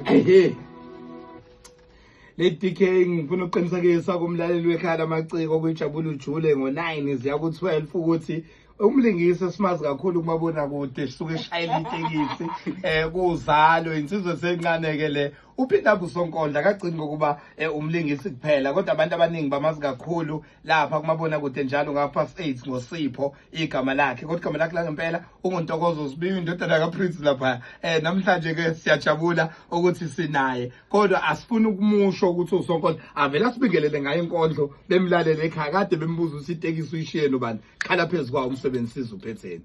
Hey. Lady K ngifuna ukuqinisekisa kumlaleli wekhaya lamaciko kuyijabula ujule ngo-9 ziya ku-12 ukuthi umlingisi esimazi kakhulu kumabona kude suke eshayela itekisi eh kuzalo insizwe sencaneke le uphinda busonkondla kagcini ngokuba eh, umlingisi kuphela kodwa abantu abaningi bamazi kakhulu lapha kumabona kude njalo ngapast 8 ngosipho igama lakhe kodwa igama lakhe langempela unguntokozo sibiwe indodana kaprince lapha eh namhlanje ke siyajabula ukuthi sinaye kodwa asifuni ukumusho ukuthi usonkondlo avela sibingelele ngaye inkondlo bemlalele ekhaya kade bembuza ukuthi itekisi uyishiye nobani khala phezulu kwawo umsebenzi sizuphe thina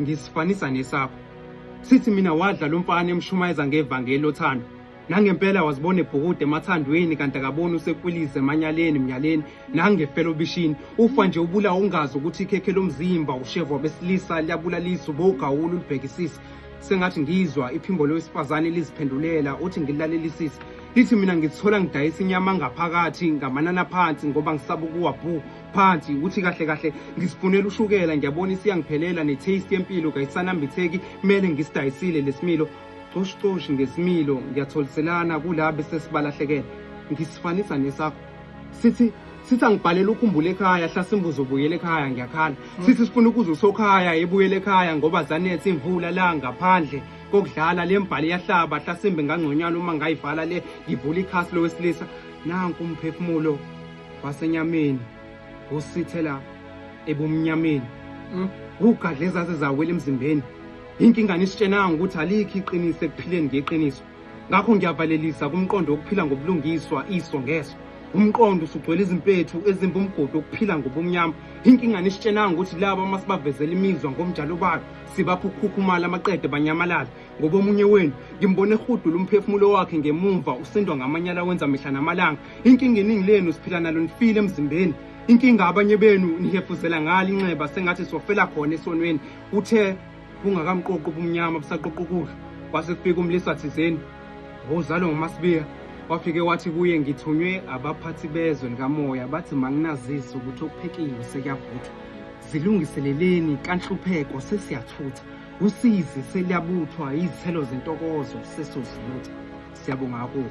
ngisifanisa nesakho sithi mina wadla lo mfana emshumayeza ngevangeli othando nangempela wazibona ebhukude emathandweni kanti akaboni usekwilize emanyaleni emnyaleni nangefela obishini ufa nje ubula ungazi ukuthi ikhekhe lomzimba ushevwa besilisa liyabulalisa ubogawula ulibhekisisa sengathi ngizwa iphimbo lowesifazane liziphendulela uthi ngilalelisise lithi mina ngizithola ngidayisa inyama ngaphakathi ngamanana phansi ngoba ngisaba ukuwa bhu phansi ukuthi kahle kahle ngisifunela ushukela ngiyabona isiyangiphelela ne-taste yempilo kayisanambitheki kumele ngisidayisile lesimilo coshicoshi ngesimilo ngiyatholiselana kula bese sibalahlekele ngisifanisa nesakho sithi sithi angibhalele ukhumbule ekhaya hlasimbuzo ubuyele ekhaya ngiyakhala hmm. sithi sifuna ukuze usokhaya ebuyele ekhaya ngoba zanethe imvula la ngaphandle kokudlala le mbhali yahlaba hlasimbe ngangconywana uma ngayivala le ngivula ikhasi lowesilisa nanku umphefumulo wasenyameni usithela ebumnyameni hmm? ugadle ezaze zawela emzimbeni inkinga nisitshenanga ukuthi alikho iqiniso ekuphileni ngeqiniso ngakho ngiyavalelisa kumqondo wokuphila ngobulungiswa iso ngeso umqondo usugcwele izimpethu ezimba umgodi wokuphila ngobumnyama inkinga nisitshenanga ukuthi laba uma sibavezela imizwa ngomjalo bayo sibapha ukukhukhumala amaqede banyamalala ngoba omunye wenu ngimbone ehudula umphefumulo wakhe ngemumva usindwa ngamanyala wenza mihla namalanga inkinga iningi lenu siphila nalo nifile emzimbeni inkinga abanye benu nihefuzela ngalo inxeba sengathi sofela khona esonweni uthe bungakamqoqi ubumnyama busaqoqa ukudla kwase kufika umlisa thizeni wawuzalwa ngumasibiya wafike wathi kuye ngithunywe abaphathi bezwe likamoya bathi manginazise ukuthi okuphekiwe sekuyavuthwa zilungiseleleni kanhlupheko sesiyathutha Usizi seliyabuthwa izithelo zentokozo sesozibutha. Siyabonga kakhulu.